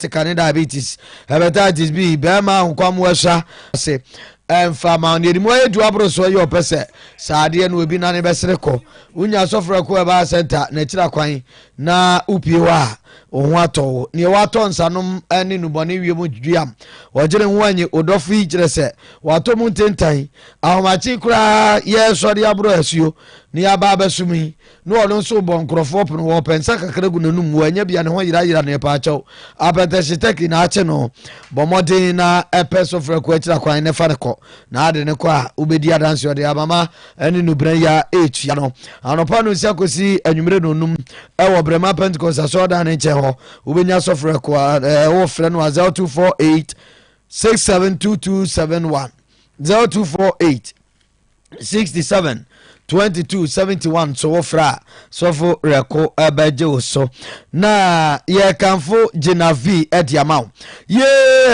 sika ne diabetes hepatitis b bɛrima nkwammoa sua ase ɛmfa ma ɔne ɛdi mu ayɛ du aboro so ɛyɛ ɔpɛ sɛ saa adeɛ no obi nane bɛsere kɔ wonya sɔfrɛ ko ɛbaa sɛnta na akyira kwan na wopie hɔ a wo ho atɔ wo neɛ watɔ nsanom ne nubɔne wie mu duam ɔgyere ho anyi odɔfo yi kyerɛ sɛ watɔ mu ntentan ahomakye koraa yɛsɔre aborɔ asuo ne yɛaba abɛsom yi na ɔno nso rebɔ nkurɔfoɔ pono, ɔrepɛ nsa kakra gu n'anum mu, ɛnyɛ bi a ne ho yerayera no, yɛpaakyɛw, apɛtɛhye turkey na akye no, bɔ mmɔden na pɛ sofrɛ kɔ akyira kwan na fa no kɔ, na de no kɔ a, wobɛdi adanseɛ, ɔde amama ne nubena yi a ɛretua no, anɔpa no nsia kɔsi anwummere no nnum, wɔ Brema Pentecost asɔrdan no nkyɛn hɔ, wobɛnya sofrɛ kɔ a, ɛɛ, wofrɛ no a 0248 672271 0248 67 22 71 so wofrɛ a sɔfo rɛko bɛgye wo so na yɛkamfo gyina vi de ama wo ye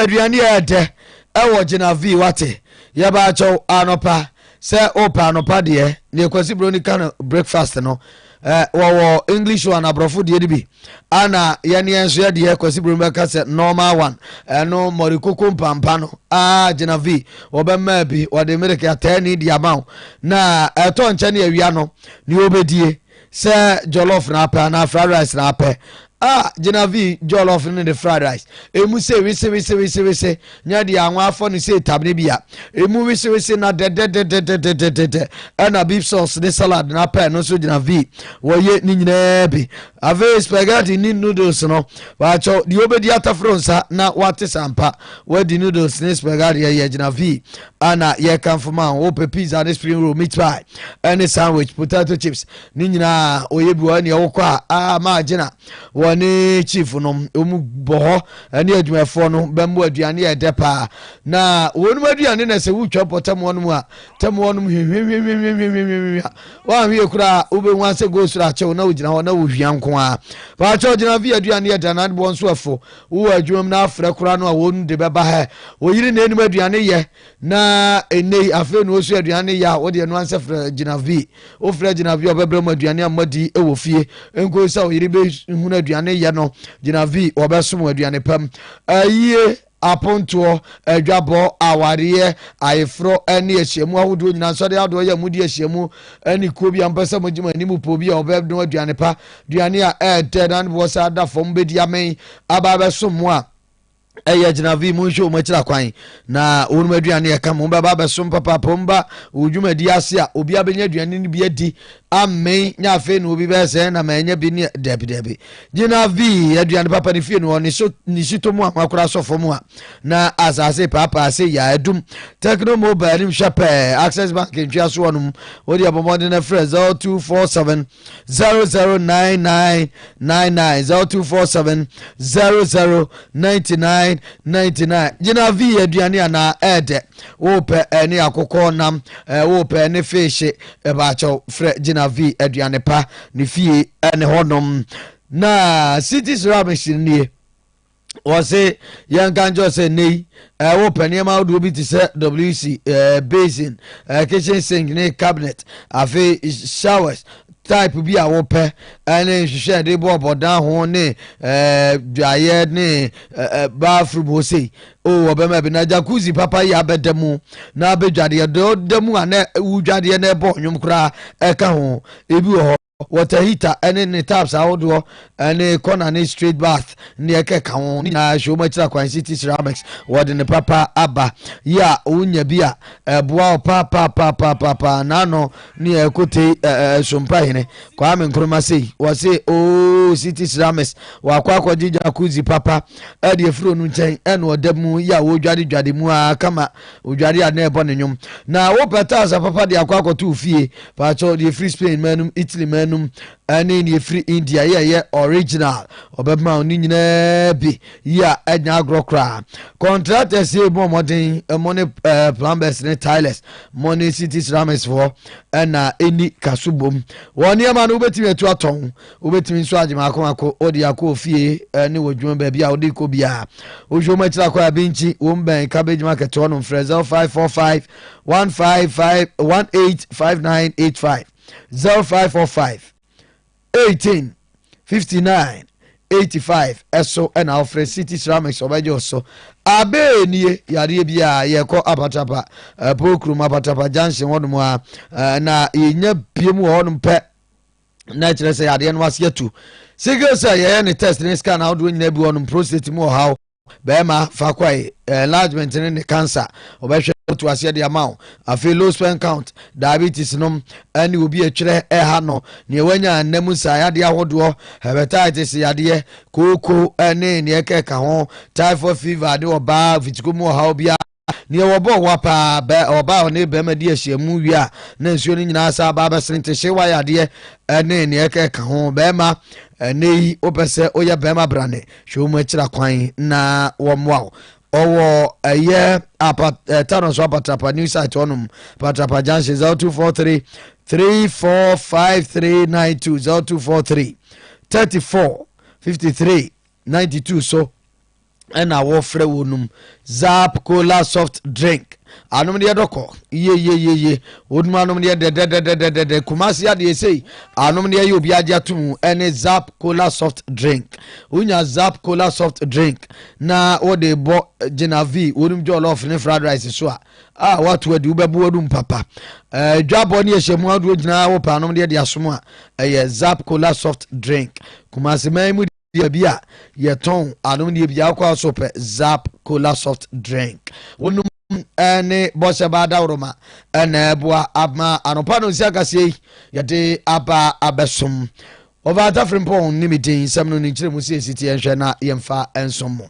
aduane yɛ dɛ ɛwɔ gyina vi wate yɛbaakyɛw anɔpa sɛ wopa anɔpa deɛ ne kwasi buroni ka no breakfast no Eh, wɔwɔ english one aborɔfo deɛ no bi ana yɛneɛ nso yɛdeɛ kwasi brom bɛka sɛ normal one ɛno mmɔre koko mpampa no aa gyina v wɔbɛmaa bi wɔde mereke ataani de ama wo na ɛtɔ nkyɛ ne awia no ne wɔbɛdie sɛ jollof na apɛ anaa fried rice na apɛ Ah Genevieve jollof ne de fried rice emu se wese wese wese wese nyɛ deɛ anwa afɔ ne se tabene bia emu wese wese na dɛdɛdɛdɛdɛdɛdɛdɛ ɛna beef sauce ne salad na pɛ no nso Genevieve wɔyɛ ne nyinaa bi afei spaghetti ne noodles no baakyɛ deɛ obedi ataforo nsa na wate sampa wadi noodles ne spaghetti ɛyɛ Genevieve ana yɛkamfo ma wo wopɛ pizza ne spring roll meat pie ɛne sandwich potato chips Ne nyinaa ɔyɛ bi wɔ ɛne ɛwokɔ a aa maa gyina wɔ ne chief nom ɔmu bɔ hɔ ɛne adwumafoɔ no bɛmmo aduane yɛ dɛ paa na wɔnom aduane na sɛ wotwa pɔ tɛmoɔ nom a tɛmoɔ nom hwehwehweh 'm Na ɛnnɛ yi, afei na ɔsua aduane no yɛ a, wo deɛ no ansɛ frɛ gyinavi. Wofrɛ gyinavi a, ɔbɛbrɛ mo aduane a moadi wɔ fie. Nkosi sɛ ɔyere bɛhunu aduane yɛ no, gyinavi, wɔbɛsom aduane pa mu. Ayie, apontoɔ, adwabɔ, awareɛ, ayeforɔ ne ahyiamu ahodoɔ nyinaa, nsɔre ahodoɔ yɛ a modi ahyiamu ne kuo bi a mopɛ sɛ mogye mo anim pɔ bi a ɔbɛnoa aduane pa, aduane a ɛyɛ dɛ na ne boɔ saa da fam bɛdi amee aba abɛsom mo a, ɛyɛ gyina vi mu nhwɛ wɔn akyira kwan na wɔnom aduane ɛka mu bɛba abɛsom papaapa wɔn ba wɔn dwumadi ase a obi abɛnya aduane no bi adi amee nya afei na obi bɛyɛ sɛ na mɛnyɛ bi ne dɛbi dɛbi gyina vi aduane papa ne fie no wɔ ne so ne si to mu a wakora sɔ fam a na asase paapa ase yɛ adum techno mobile nim hwɛ pɛɛ access bank ntwea so wɔnom wɔde abɔmɔden na frɛ zero two four seven zero zero nine nine nine nine zero two four seven zero zero ninety nine ninety nine gyina vi aduane anaa ɛɛdɛ wopɛ ɛne akokɔ nam ɛɛ wopɛ ɛne feehye ɛbaakyɛw frɛ gyina vi aduane pa ne fie ɛne hɔnom na cities ramish nie. wɔse yɛnka nkyerɛ sɛ nnɛ yi eh, wopɛ nneɛma ahodoɔ bi te sɛ wc eh, basin eh, kitchen sink ne cabinet afei showers type bi a wopɛ ne nhwehwɛ ɛde bɔ ɔbɔdan ho ne dwaeɛ ne bathroom hɔ sei o wɔbɛma bi na jacuzzi papa yi abɛda mu na abɛdwadeɛ da mu a na wodwadeɛ na ɛbɔ ɔnwom koraa ɛka ho ebi wɔ hɔ Water heater ne ne taps ahodoɔ ne corner ne straight bath ne ɛkɛ ka ho ne nyinaa hyɛ wɔn akyiri akwan city ceramics wɔde ne papa aba yi a wonya bi a ɛboa wo paapaapaapaapaapa n'ano ne ɛkotei ɛsompa hene kwame nkrumah sei wɔse oo city ceramics wakɔ akɔgye jacuzzi papa ɛde afuro no nkyɛn ɛna ɔda mu yi a wɔdwadedwade mu a kama Odware a na ɛbɔ ne nnwom. Na wopɛ taasa papa de akɔ akɔto wo fie. Paakyɛw, deɛ ɛfiri Spain man nom, Italy man nom, ɛne deɛ ɛfiri India yi a ɛyɛ original, wɔbɛma wo ne nyinaa bi. Yi a ɛnyɛ agorɔ koraa. Contractors yi bɔ mmɔden, mo ne eh, plumbers ne tilers, mo ne city ceramics foɔ, ɛna ɛni kaso bom. Wɔ nneɛma no wobɛtumi atu atɔn. Wobɛtumi nso agye mako mako, wode akɔ ofie ne wɔ dwuma baabi a wode kɔ biara. Wohwɛ wɔn akyiri akɔ a, Binkyi, wɔn bɛn Cabbage Market hɔ nom, frɛ 0545 155 185985, 0545 18 59 85 ɛso ɛna ɔfrɛ city ceramics ɔbɛgye ɔso abee nie yadeɛ bi a yɛkɔ apatapa ɛpo kurom apatapa junction hɔnom a na yɛnya bie mu wɔ hɔnom pɛ na ɛkyerɛ sɛ yadeɛ no ase atu sickle cell yɛyɛ ne test ne scan ahodoɔ nyinaa bi wɔ no prostate mu ɔhaw bɛrima faako a enlargement ne ne cancer ɔbɛhwɛ to aseɛ de ama wo afei low sperm count diabetes nom ɛne obi atwerɛ ɛha no neɛ wanya nna mu nsa yadeɛ ahodoɔ hepatitis yadeɛ kooko ɛne neɛ kɛka ho typhoid fever ne ɔbaa fitiko mu ɔhaw biara Nea wɔbɔɔ wa paa, bɛ, ɔbaa a ɔne barima di ahyiamu wie a na nsuo no nyinaa asan aba abɛsene nti hye wa yadeɛ ne nea ɛka ɛka ho. Barima, ɛnnɛ yi wopɛ sɛ woyɛ barima brane, hwɛ wɔn akyira kwan na wɔmmoa wo. Ɔwɔ ɛyɛ apa, eh, Tano so apatrapa new site hɔnom, patrapa junction 0243 345392 0243 34 53 92 so. ɛna wɔfrɛ wɔ nom zap cola soft drink anom deɛ dɔkɔ yeyeyeye wɔnom anom deɛ dɛdɛdɛdɛdɛdɛ kumase adeɛ sei anom deɛ yɛ obi agye ato mu ɛne zap cola soft drink wonya zap cola soft drink na wɔde bɔ gyina v wɔnom jɔlɔf ne fried rice so a a wato adi wobɛbo wɔnom papa dwabɔ ne ɛhyɛ mu adoɔ gyinaa wɔ paanom deɛ de asom a ɛyɛ zap cola soft drink kumase man mu baabi a yɛtɔn anomdeɛ bi akɔ a so pɛ zap cola soft drink wonom ne bɔhyɛ baa dawroma na ɛboa ama anɔpa no nsi akaseɛ yi yɛde aba abɛsom wɔfa atafere mpɔn ne me din nsɛm no ne nkyerɛmu sɛ ɛsiteɛ nhwɛ na yɛmfa nsom mo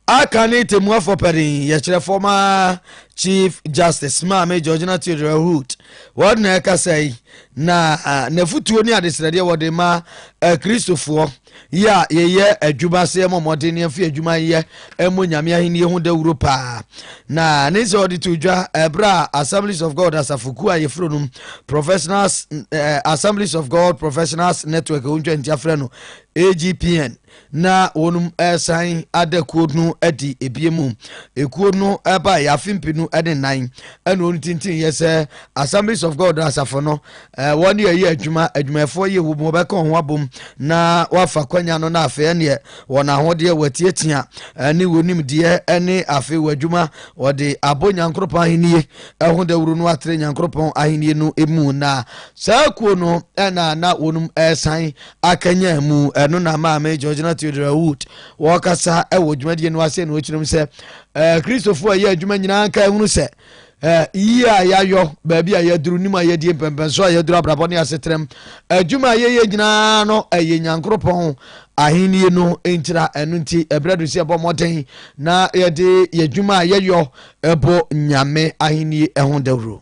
Aka ne Tɛmmuafoɔ Panin yɛkyerɛ fɔma Chief Justice Maame Georgina Theodora Hood wɔn na ɛkasa yi na n'afutuo ne adesrɛdeɛ wɔde ma Kristofoɔ yɛ a yɛyɛ adwuma sɛ ɛmɔ mmɔden ne ɛmfi adwuma yɛ ɛmɔ Nyame ahenni ho dawuro paa na ne sɛ ɔde to dwa ɛberɛ a Assemblies of God asafokuo a yɛfiri nom Professionals Assemblies of God Professionals Network ɔntwa nti afrɛ no AGPN na wɔnom ɛsan ada kuo no adi ebie mu ekuo no ɛba yɛ afe mpenu ɛne nan ɛna wɔn tintin yɛ sɛ assemblies of god asafo no ɛɛ wɔn yɛ yɛ adwuma adwumayɛfoɔ yɛ wɔn mu wɔbɛka wɔn abom na wɔafa kwanya no na afei ɛneɛ wɔn ahodeɛ wɔatiatia ɛne wɔn nimdeɛ ɛne afei wɔn adwuma wɔde abɔ nyankoropɔn ahennie ɛho dawuro no atere nyankoropɔn ahennie no emu na saa kuo no ɛna na wɔnom ɛsan akanyan mu. Ɛno na maame Georgina Theodora Wood wɔkasa wɔ dwumadie no ase na ɔkyerɛm sɛ eh, Kristofo a ɛyɛ adwuma nyinaa nka ɛhunu sɛ eh, yie a yɛayɔ baabi a yɛaduru nim a yɛadie mpɛmpɛnso a yɛaduru abrabɔ ne asetrɛm adwuma a yɛyɛ nyinaa no ɛyɛ nyankoropɔn ahenni no nkyira ɛno nti ɛberɛ do sɛ ɛbɔ mmɔden na yɛde yɛdwuma a yɛyɔ ɛbɔ nyame ahenni ho dawuro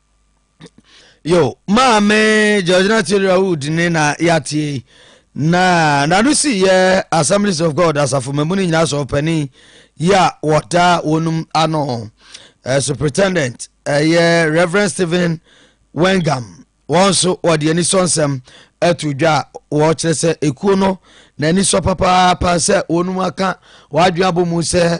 yo maame georgina theodora wood ne na yɛatie na nano si yɛ assemblies of god asafo mamu no nyinaa sɛ ɔpani yi a wɔda wɔnom ano uh, superintendent ɛyɛ uh, reverend stephen wengam wɔn nso wɔde ani sɔ nsɛm ato dwa a wɔkyerɛ sɛ ekuo no n'ani sɔ papaapa sɛ wɔnom aka wɔadwene abɔ mu sɛ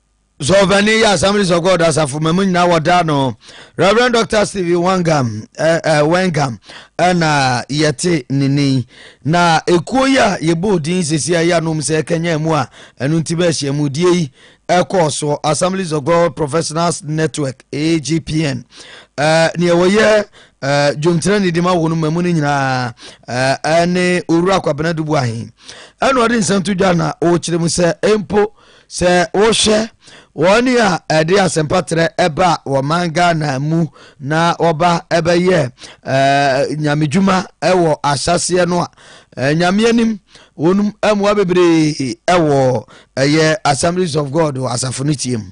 So ɔpanin yi Assemblies of God asafo ma mu nyinaa wɔda no Reverend Dr. Stephen Wangam eh, eh, Wangam ɛna yɛte ne nin na ekuo yi a yɛbɔ din sisi a yɛanom sɛ ɛkanya mu a ɛno nti bɛhyia mu die yi ɛkɔɔ so Assemblies of God Professionals Network AGPN eh, nea wɔyɛ eh, dwomtena ne di ma wɔn ma mu no nyinaa eh, ɛne owura kwabena dubu ahen ɛna ɔde nsɛm to dwa na ɔkyerɛ mu sɛ mpo Sɛ wohwɛ wɔn a ɛde asɛmpa trɛ ɛba wɔ man Ghana mu na wɔba ɛbɛyɛ ɛɛ nyamedwuma ɛwɔ ahyɛseɛ no a ɛɛ nyame anim wɔn mmoa bebree ɛwɔ ɛyɛ Assemblies of God wɔ asafo no tie mu.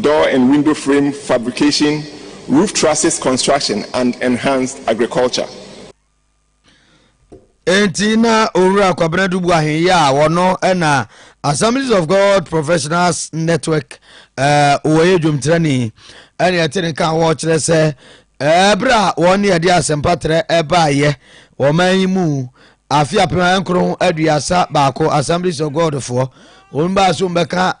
Door and Window Frame Fabrication, Roof Trusses Construction and Enhanced Agriculture. Enti na Owura Kwabena Dubu Ahenye a wɔno na Assemblies of God Professionals Network eh, wɔyɛ dwomtrani ɛne ɛte ne ka wɔkyerɛ sɛ ɛberɛ a wɔne ɛde asɛmpatrɛ ɛbaayɛ wɔman yi mu Afe apem ahankron aduasa baako Assemblies of God foɔ wɔn baa so wɔn bɛka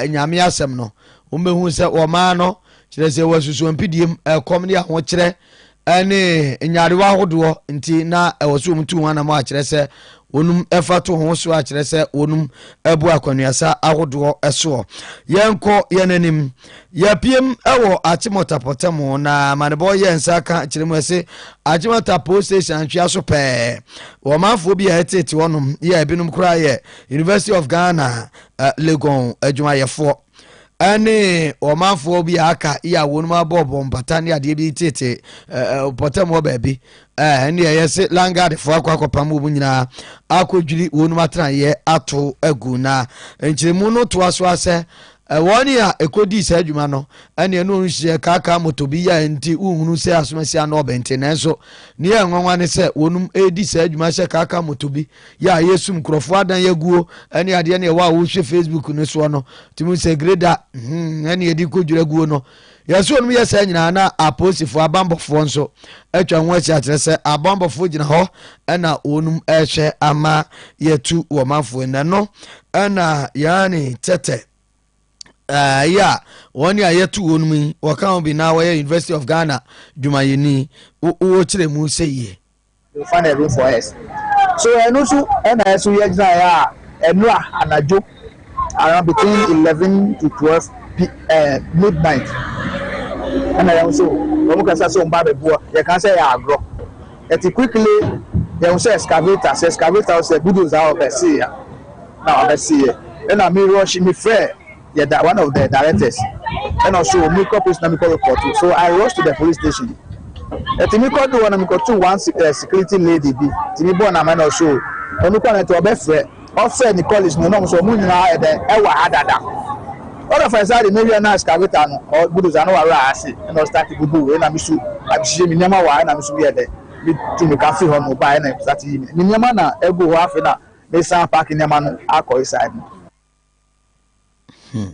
nyame asɛm no wɔn bɛhu sɛ wɔmaa no kyerɛ sɛ wɔasusu mpidiem ɛkɔm ne ahokyerɛ ɛne nyarewa ahodoɔ nti na ɛwɔ so wɔn tu ho anam akyerɛ sɛ wɔnum ɛfa to ho so akyerɛ sɛ wɔnum ɛbu akwanuasa ahodoɔ ɛsoɔ yɛnkɔ yɛn anim Yɛapiem wɔ Achimota pɔtam na amanebɔ yɛ nsa ka kyerɛ mu ɛse Achimota Post Station antwea so pɛɛ. Wɔmanfoɔ bi a ɛteete hɔnom yɛ ebinom koraa yɛ University of Ghana uh, Legon adwumayɛfoɔ ɛne ɔmanfoɔ bi a aka yɛ a wɔnom abɔɔbɔ mpata ne adeɛ bi teete uh, pɔtam hɔ baabi ɛne uh, ɛyɛ se langadefoɔ akɔ akɔpam wɔ mu nyinaa akɔdwiri wɔnom atenaeɛ ato agu na nkyerɛmu no toa so asɛ Ɛwɔ nea ekodii saa dwuma no, ɛnneɛ na ɔnhyia kaakaa moto bi yɛ a enti wonhunu sɛ asomasia ano ɔbɛn te. Nanso, nea ɛnwanwa ne sɛ, wɔnom redi saa dwuma hyɛ kaakaa moto bi yɛ a ɛyɛ sum, nkurɔfoɔ adan aguo, ne adeɛ ne ɛwɔ a wohwɛ Facebook no soɔ no, tumi hu sɛ Greda, hmm, ɛnneɛ de rekɔdwira guo no, Yɛse ɔnom yɛ saa nyinaa na apolisifoɔ, abanbɔfoɔ, nso atwa ho ahyia kyerɛ sɛ abanbɔfoɔ gyina hɔ na wɔnom ɛrehwɛ ama yɛatu wɔ manfoɔ yi. Nɛno na yɛane tɛtɛ ɛɛ yi a wɔne a yɛatu wɔnom yi wɔka ho bi na wɔyɛ University of Ghana dwumayɛni wɔkyerɛ mu sɛ yie. Fa na room for us so ɛno nso ɛna ɛso yɛ gyina yɛ a ɛnora anadwo around between eleven to twelve p eh, midnight ɛna yɛn nso wɔn kasa sɛ wɔn ba abɛboa yɛ kan sɛ yɛ agorɔ ɛti quickly yɛn sɛ excavator sɛ excavator sɛ bulldozer a ɔbɛsi yɛ na ɔbɛsi yɛ ɛna mi rush mi fɛ. Yɛ da one of the directors ɛna ɔso wɔ mi kɔ police na mi kɔ report so I rush to the police station ɛti mi kɔ do hɔ na mi kɔ to one eh, security lady bi ti mi bɔ na ma na ɔso ɔno kɔ na ɛti ɔbɛ frɛ ɔfrɛ ni college no na ɔmo so ɔmo nyinaa ɛdɛ ɛwɔ ha dada ɔna fɛn saa de mi wia na excavator no ɔ budoza no wɔ awura ase ɛna ɔstart bubu ɛna mi so abihyehyɛ mi nneɛma wɔ ɛna mi so yɛ dɛ mi tu mi ka fi hɔ no ba ɛna start yi mi mi nneɛma na ɛgu hɔ afei na mi san paaki nneɛma no akɔ yi side no. Hmm.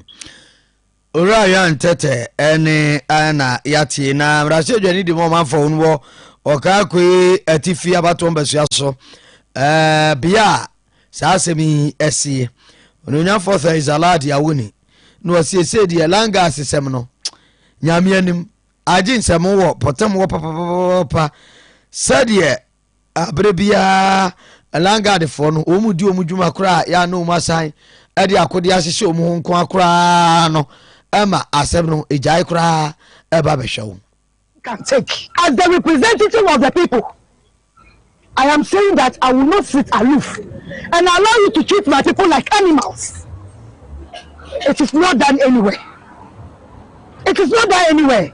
Owura ya ntɛtɛ ɛne ɛna yate na mmarahyɛ adwani di mu ɔmanfo no wɔ ɔkaa koe atifi abatoɔ mbasua so ɛɛ bea a saa asɛm yi ɛsie ononyanfoɔ sɛ isalad awoni na ɔsiesie deɛ langa asesɛm no nyame anim agye nsɛm wɔ pɔtam wɔ papapapa sɛdeɛ Bere biara Langadfoɔ no, wɔn mu di wɔn dwuma koraa a yɛa na wɔn asan de akodeɛ ahyehyɛ wɔn ho nko ara koraa no ma asɛm no gyae koraa ba bɛhwɛ wo. can take. As the representative of the people, I am saying that I will not sit aloof and allow you to treat my people like animals. It is not done anywhere. It is not done anywhere.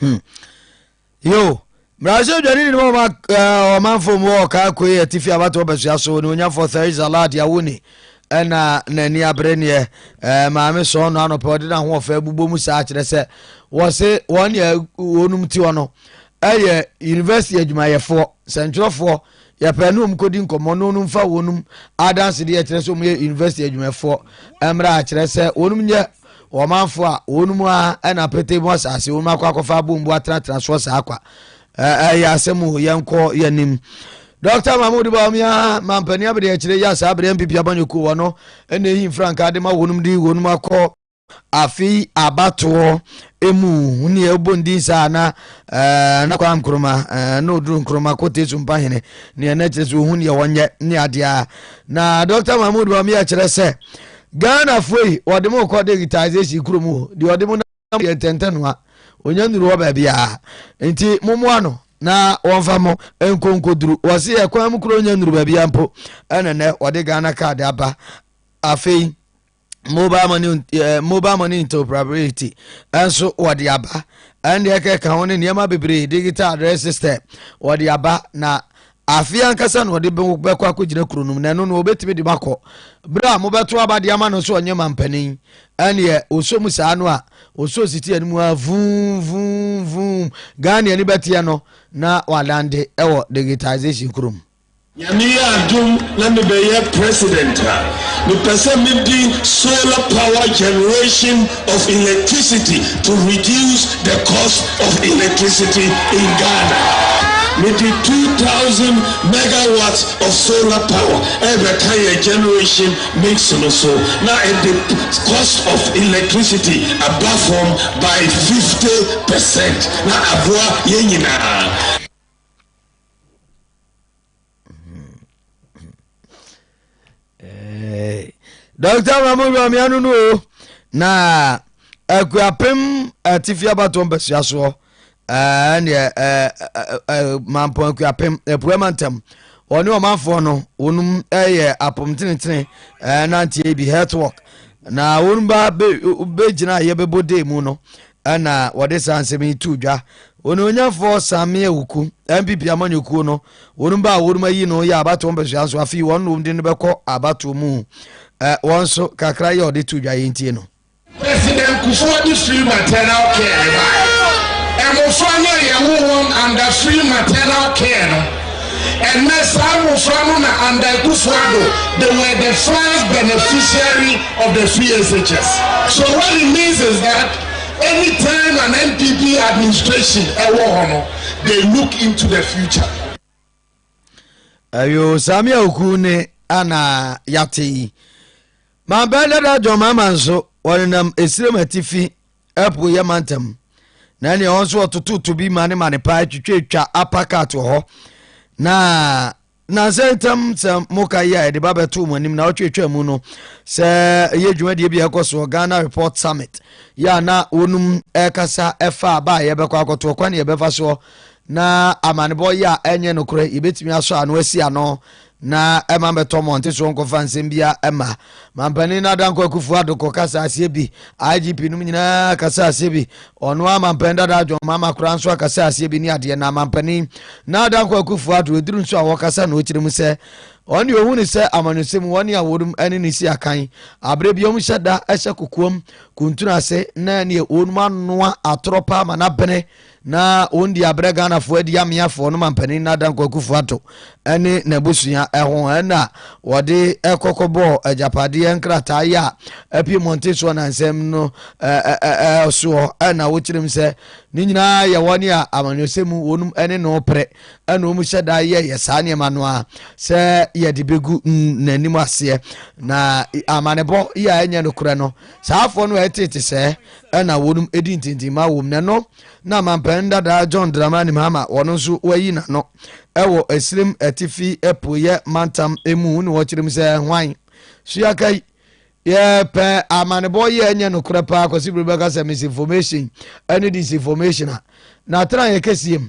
Hmm. Yo, Brazil dwani ni mo ma ɔman fam wɔ ɔkaa koe atifi abatɔ basua so ne onyafo Theresa Lad Yawuni ɛna n'ani abere neɛ ɛɛ maame sɔn no anɔpɛ ɔde n'ahoɔfɛ bubɔ mu saa kyerɛ sɛ wɔse wɔn deɛ wɔnom ti hɔ no ɛyɛ university adwumayɛfoɔ sɛntwerɛfoɔ Yɛpɛ ne wɔn kɔdi nkɔmmɔ na wɔn mfa wɔn adansedeɛ a ɛkyerɛ sɛ wɔn yɛ university adwumafoɔ mmra akyerɛ sɛ wɔn nyɛ ɔmanfoɔ a wɔn mu ara na pete mu asase wɔn akɔ akɔfa abombo atenatena soɔ saa kwa ɛyɛ asɛm o yɛnkɔ yɛnim Dr. Mahmoud Bawumia mampanin abɛde akyire yɛ saa abɛde MPP abanyɔkuo wɔ no ɛna ehi mfrankaa de ma wɔn de wɔn akɔ Afei abatoɔ emu huni a ɛbɔ ndin saa na ɛɛ na kwa nkroma ɛɛ na oduru nkroma kote sumpa hene nea na kyerɛ sɛ ohun yɛ wɔnyɛ ne adeɛ a na dr mahmood bami akyerɛ sɛ ghana foɔ yi wɔde mo kɔ digitization kuro mu o deɛ ɔde mo nam yɛ ntɛntɛ noa onya nnuru hɔ baabi a nti mo moa no na wɔmfa mo nkɔ nkɔduru wɔse yɛ kwan mu kuro onya nnuru baabi a mpo ɛna nɛ wɔde ghana card aba afei mobile money ɛɛ mobile money interoperability ɛnso wɔde aba ɛnna ɛkɛ ka ho ne nneɛma bebree digital address system wɔde aba na afei ankasa na wɔde bɛkɔ akɔgyina kuro nom na ɛno no wɔbɛtumi de bakɔ berɛ a mobɛto aba de ama no so ɔnyɛ mampanin ɛneɛ ɔsɔ mu saa no a ɔsɔ siti anim a vum vum vum ghana ani bɛteɛ no na wadande ɛwɔ digitization kurom Nyame yɛ adom na me bɛyɛ president a, me pɛ sɛ me de solar power generation of electricity to reduce the cost of electricity in Ghana. Me de two thousand megawatts of solar power ɛrebɛka yɛn generation mix no so na ɛde cost of electricity aba fam by fifty percent na aboa yɛn nyinaa. dɔkta mamu wamia no no o na akuapem atifi abatoɔ mpasua soɔ ɛneɛ mampɔn akuapem apua ma ntam wɔne ɔmanfoɔ no wɔnom yɛ apom tenetene nanteɛ bi health work na wɔnom ba bɛgyina a yɛbɛbɔ dee mu no Ɛna wɔde saa nsɛm yi too dwa. Onuonyamfoɔ Sammie Awuku, NPP amanyɔkuo no, wɔnom baa wɔnom ayi no yɛ abatoɔ mpɛsoa nso afei wɔn nom de no bɛkɔ abatoɔ mu. Ɛ, wɔn nso, kakra yi a wɔde too dwa yi ntie no. President Kufuor de free maternal care bae. Mmofra no a yɛwoo wɔn under free maternal care no Ɛnnɛ, saa mmofra no na Anda Akufo-Addo, they were the first beneficiary of the free SHS. So what it means is that any time an NPP administration ɛwɔ hɔ no, they look into the future. Ayo, saa me awoku ne ana yate yi. Mampɛ dada John Mahama nso, wɔnenam Esirem Atifi Ɛpo yɛ ma ntɛm na ɛne ɛhɔ nso ɔtototo bi ma ne ma ne paa twitwatwa apakat wɔ hɔ na nansɛ ntɛm sɛ moka yi a yɛde ba bɛto mu anim na ɔtwetwa mu no sɛ ɛyɛ dwumadie bi a ɛkɔ soɔ ghana report summit yɛ a na wɔnum ɛkasa ɛfa a ba a yɛbɛkɔ akɔto ɔkwan yɛbɛfa soɔ na amanebɔ yɛ a ɛnyɛ nokorɛ yɛbɛtumi asɔ ano asi ano na ɛma mɛtɔ mmɔnte so nkɔfa nsɛm bia ɛma mampanin Adankwa Akufo Addo kɔ kasa aseɛ bi IGP nom nyinaa kasa aseɛ bi ɔno a mampanin dada John Mahama koraa nso akasa aseɛ bi ne adeɛ na mampanin na Adankwa Akufo Addo ɛduru nso a wɔkasa na ɔkyerɛ mu sɛ wɔn deɛ ɔhu ne sɛ amanyɔsɛm wɔn a wɔnom ɛne ne si akan aberɛ bi wɔn hyɛ da ɛhyɛ kokoam kuntunu ase na neɛ wɔnom anoa atorɔ paa ma no abene Na wɔn di abrɛ Ghanafoɔ adi ameafoɔ no mampanin Nada Nkwakufoɔ Ato ne n'abusua ho ɛna wɔde kɔkɔ bɔɔ agyapadeɛ nkrataa yi a apie mmɔnten soɔ nansɛm no soɔ ɛna wɔkyerɛ mu sɛ ne nyinaa yɛ wɔn a amanyɔsɛ mu wɔn ne no pere ɛna wɔn hyɛ da yɛyɛ saa nneɛma no a sɛ yɛde bɛgu n'anim aseɛ na amanebɔ yi a ɛnyɛ nokorɛ no saafoɔ no ɛtete sɛ na wɔnom di ntintimma wom na ɛno na mampanin dadaa john dramani mahama wɔn nso wayi n'ano wɔ asirim atifi apueɛ mantam mu na wɔkyerɛ mu sɛ hwan so yɛaka yi yɛpɛ amanebɔ yi a ɛnyɛ nokorɛ paa kwasi bere bɛka sɛ misinformation ɛne disinformation a na atena yɛ kɛseɛ mu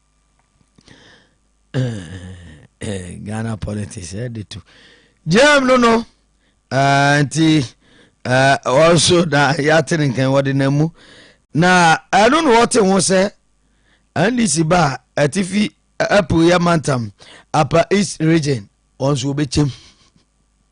ghana politics ɛde eh, to gyam no no ah, nti ah, ɔnso na yɛate ne nkan wɔde na mu na ɛno na wɔte ho sɛ ndc ba a atifi apueɛ mantam apa east region wɔn nso wɔbɛkyɛm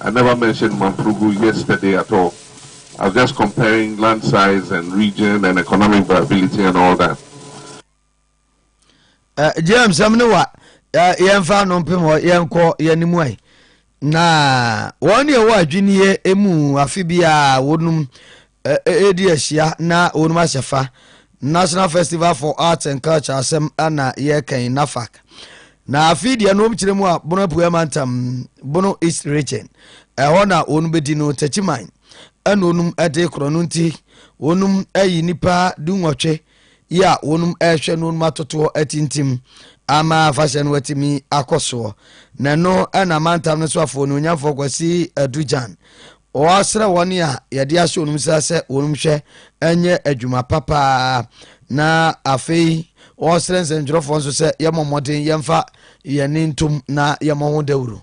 I never mentioned Mamprogou yesterday at all, I was just comparing land size and region and economic viability and all that. Uh, eh, GM sɛm ne wa uh, yɛmfa no mpem hɔ yɛnkɔ yɛne mu ai na wɔn ne ɛwɔ adwinneɛ mu afe biara wɔnom a ɛredi ahyia na wɔnom ahyɛ fa, National Festival for Arts and Culture asɛm na yɛreka yi, NAFAC. Na afei deɛ nom kyerɛ mu a Bono Apueɛ Mantam, Bono East Region, ɛhɔ na wɔnom bɛdi no Takyiman ɛna wɔnom de korɔ no nti wɔnom ayi nipa du nwɔtwe yi a wɔnom rehwɛ no wɔnom atotoɔ atintim ama afahyɛ no atumi akɔ soɔ na ɛno ɛna mantam no so afoɔ no onyamfoɔ kwasi adugyan wɔasrɛ wɔn a yɛde ahyɛ wɔnom nsa sɛ wɔnom hwɛ ɛnyɛ adwuma papaa na afei wɔsrɛ nsɛntwerɛfoɔ nso sɛ yɛmmɔ mmɔden yɛmfa yɛne ntom na yɛmmɔ ho dawuro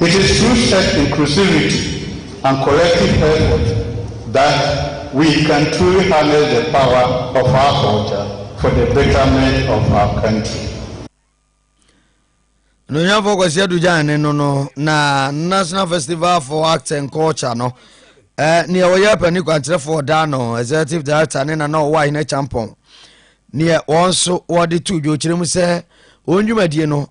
It is through such inclusivity and collective effort that we can truly harness the power of our culture for the betterment of our country. Anuonyamfoɔ Kwasi Adu Gyan ne no no na National Festival for Arts and Culture no eh, neɛ ɔyɛ pani kwankyerɛfoɔ ɔdaa no executive director ne na na ɔwɔ ahene kyampɔn neɛ wɔn nso wɔde to dwokyerɛ mu sɛ wɔn dwumadie no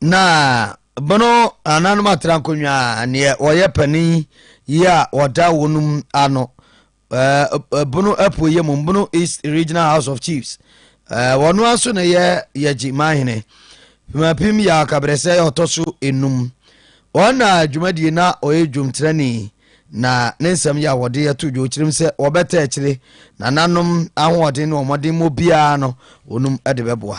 Na bono ananom atra nkonnwa a neɛ wɔyɛ panin yi a wɔda wɔnom ano ɛɛ bono apueɛ mu bono east regional house of chiefs ɛɛ wɔn aso na yɛ yɛgye manhene pimapim yɛ akabrɛsɛ yɛ ɔtɔ so enum wɔn na dwumadie na ɔyɛ dwomtirani na ne nsɛm yɛ a wɔde ato dwa ɔkyirim sɛ wɔbɛtɛ akyire nananom ahoɔden ne wɔn mmɔden mu biara no wɔnom de bɛboa.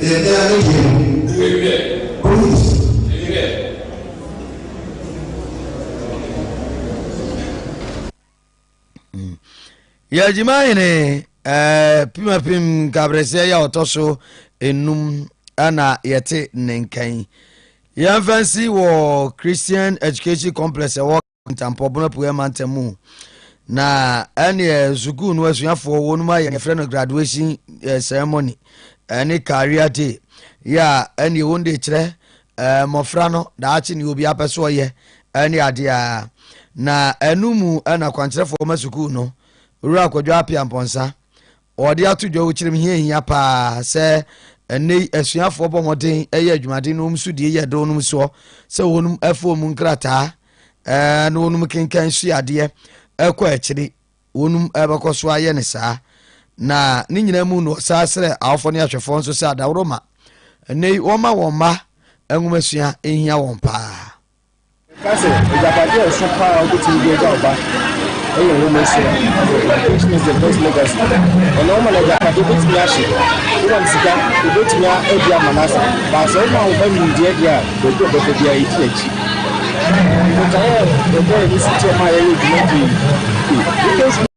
Ɛyɛ mea me deɛ no. Police. yɛgyima hene eh, pimapim nkabrɛseɛ yɛ ɔtɔ so enum ɛna yɛte ne nkan yɛmfa nsi wɔ christian education complex ɛwɔ Ntampɔbon apueɛ mantam mu na ɛneɛ sukuu no asuafoɔ wɔnom ayɛ yɛfrɛ no graduation eh, ceremony ɛne eh, career day yɛ a ɛneɛ wɔn de kyerɛ eh, mmɔfra no daakye ne obi apɛ so ɔyɛ ɛne adeɛ a na ɛno mu ɛna kwankyerɛfoɔ ma sukuu no wura akwadwa apia mpɔnsa Wɔde ato dwa wɔ kyerɛm hia hia paa sɛ ɛnnɛ yi asuafoɔ bɔ mmɔden yɛ adwumaden na wɔn so die yɛ dɔn nom soɔ sɛ wɔn ɛfo wɔn nkrataa ɛɛ na wɔn kenkan sua adeɛ ɛkɔ akyiri wɔn ɛbɛkɔ so ayɛ ne saa na ne nyinaa mu na ɔsaa srɛ awofoɔ ne ahwɛfoɔ nso sɛ adaworo ma ɛnnɛ yi wɔma wɔn mma nwomasua nhia wɔn paa. Yɛka sɛ agyapade a ɛso paa a wobetumi de agya wo ba yɛ wo mmosea. Education is the best legacy. Ɛnna woma no agyapade, obetumi ahye. Woma no sika, obetumi adi ama no asa. But sɛ woma wo ba nimdeɛ deɛ a, baabi a ɔbɛkɔ biara, edi n'akyi. Ɛɛ, botaeɛ a ɛda yɛn ase nti a ɛma yɛyɛ dwuma pii. Education.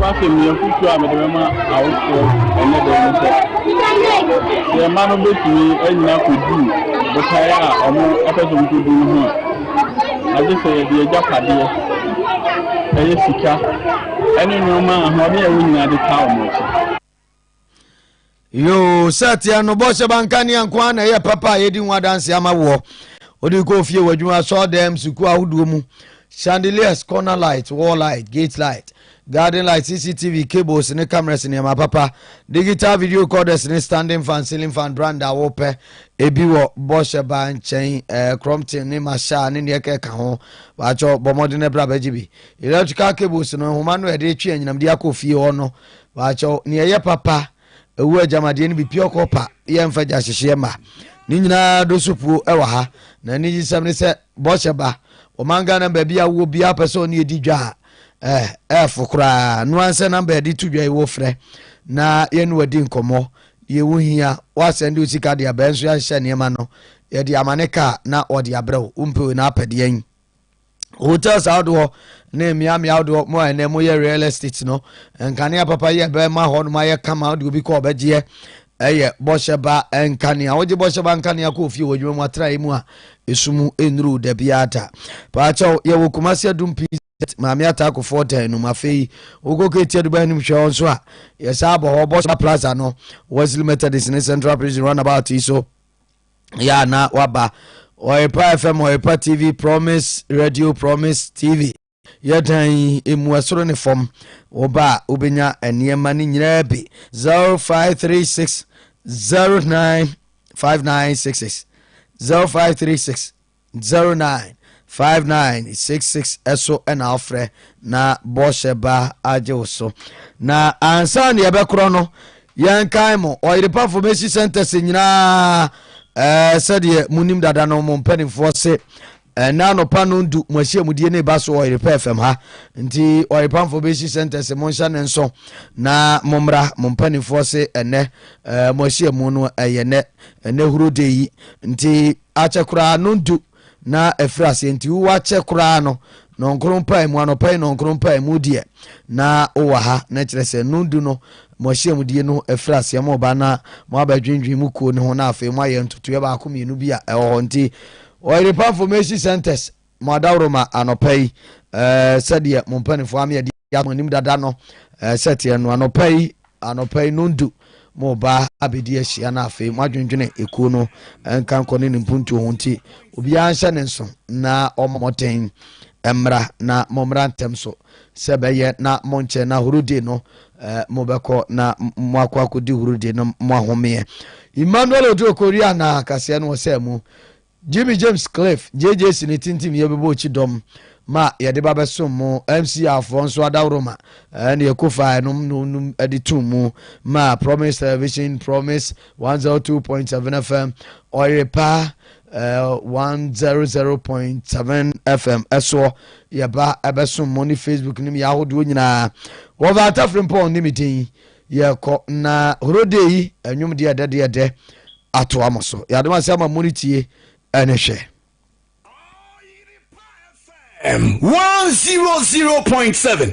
Ɛho asɛmmisa foforɔ a mede bɛma awofoɔ ɛnnɛ da yi ne sɛ, yɛn mma no bɛtumi anyini akɔdu botaeɛ a wɔpɛ sɛ wɔkɔdu no ho a, agye sɛ yɛde agyapadeɛ, ɛyɛ sika, ne nneɛma a ahoɔden a ɛwɔ nyinaa de taa wɔn akyi. yoo sɛ teɛ no bɔhyɛ ba nkanea nko ara na ɛyɛ papa a yɛdi ho adanse ama woɔ wode kɔ fie wɔ adwuma sɔɔ dɛm sukuu ahodoɔ mu chandeliers corner light wall light gate light garden light cctv cables ne cameras nneɛma papa digital video recorders ne standing fan ceiling fan brand a wopɛ ebi wɔ bɔhyɛ ba nkyɛn eh, crompton ne masha ne neɛ kɛka ho baakyɛ bɔ mmɔden no bra bɛgye bi electrical cables no nhoma no ɛde twe anyinamde akɔ fie hɔ no Wɔakyɛw nea ɛyɛ papa, ɛwɔ agyamadeɛ no bi, pure copper, yɛmfa gya hyehyeɛ mma. Ne nyinaa do so puo wɔ ha. Na anigyesɛm ne sɛ, bɔhyɛ ba. Ɔman Ghana baabi a wowɔ biara pɛ sɛ ɔne yɛdi dwa a, eh, ɛɛfo koraa. No ara nsɛ namba a yɛde to dwa yi wofrɛ na yɛne wadi nkɔmmɔ. Deɛ wohia, woasɛnde wo sika de aba, yɛn nso yɛahyehyɛ nneɛma no, yɛde amane kaa na wɔde abrɛ wo. Wompɛ wei na wapɛ deɛn? hotels ahodoɔ ne mmeammea ahodoɔ mu a ɛnɛ moyɛ real estate no nkanea papa yɛ bɛma hɔ nom ayɛ kama wode obi kɔ ɔbɛgyeɛ ɛyɛ bɔhyɛba nkanea wogye bɔhyɛba nkanea kɔ ofie wɔ adwuma mu atrae mu a ɛsu mu nnuru da biara da paakyɛw yɛwɔ kumase adum pii maame ataakofoɔ dan no mu afei wokɔ kɛti aduba anim hwɛ hɔ nso a yɛsaa bɔ hɔ bɔhyɛba plaza no wesley methodist ne central prison runabout yi so yɛ a na waba ɔrepa fm ɔrepa tv promise radio promise tv yɛ dan yi emu ɛsoro ne fam wɔba a wobɛnya nneɛma no nyinaa bi 0536 09 5966 0536 Zero nine five nine six six ɛso ɛna ɔfrɛ na bɔhyɛ ba agye wo so na ansa na yɛbɛkorɔ no yɛn kan mo ɔyerepafo mesi sɛntɛse nyinaa ɛɛ sɛdeɛ mo nim dada no mo mpanimfoɔ se ɛna anɔpa no ndu mo ahyiamudie ne ba so ɔyerepa fam ha nti ɔyerepafo mesi sɛntɛse mo nhyɛ ne nso na mo mmra mo mpanimfoɔ se ɛnɛ ɛɛ mo ahyiamu no ɛyɛ nɛ ɛnɛ huro de yi nti Akyɛ koraa no ntu na afiri aseɛ nti wowɔ akyɛ koraa no nɔnkoro mpae mu anɔpa yi nɔnkoro mpae mu deɛ na wowɔ ha na kyerɛ sɛ no ndu no mo ahyiamudie no afiri aseɛ mo ba na mo abɛdwendwen mo kuo no ho na afei mo ayɛ ntotoeɛ baako mmienu bi a ɛwɔ hɔ nti ɔyere pamfo mesi centers Mo adaworoma anɔpa yi, sɛdeɛ mo mpanimfoɔ ame adi ato mo anim dada no sɛ teɛ no, anɔpa yi, anɔpa yi nondu mo ba abɛdi ahyia na afei moadwendwene ekuo no nka nkɔ ne ne mpuntuo ho nti obiara nhyɛ ne nso na ɔmmɔ mmɔden mmra na mommra ntɛm so sɛ bɛyɛ na monkyɛ na horode no mobɛkɔ na moakɔ akɔdi horode no moahomeɛ Emmanuel Oduro Korea na kaseɛ no wɔ sɛ mu Jimmy James Cliff, JJC ne Tintim Yɛ Bɛbɔ Okyi Dɔm ma yɛde ba bɛsom mo, MCR foɔ nso Adaworoma ɛne Ekofa ɛnom nom nom ɛde tum mu ma Promise Television, Promise 102.7 FM, Ɔyerepa uh, 100.7 FM ɛsoɔ yɛba ɛbɛsom mo ne Facebook ne meyɛ ahodoɔ nyinaa. Wɔfa Atafrimpɔn ne me din Yɛkɔ na horodeɛ yi ɛnwom deɛ ɛdɛ deɛ ɛdɛ atoa mo so. Yɛadom ase ama mo ne tie ɛne hwɛ. M one zero zero point seven.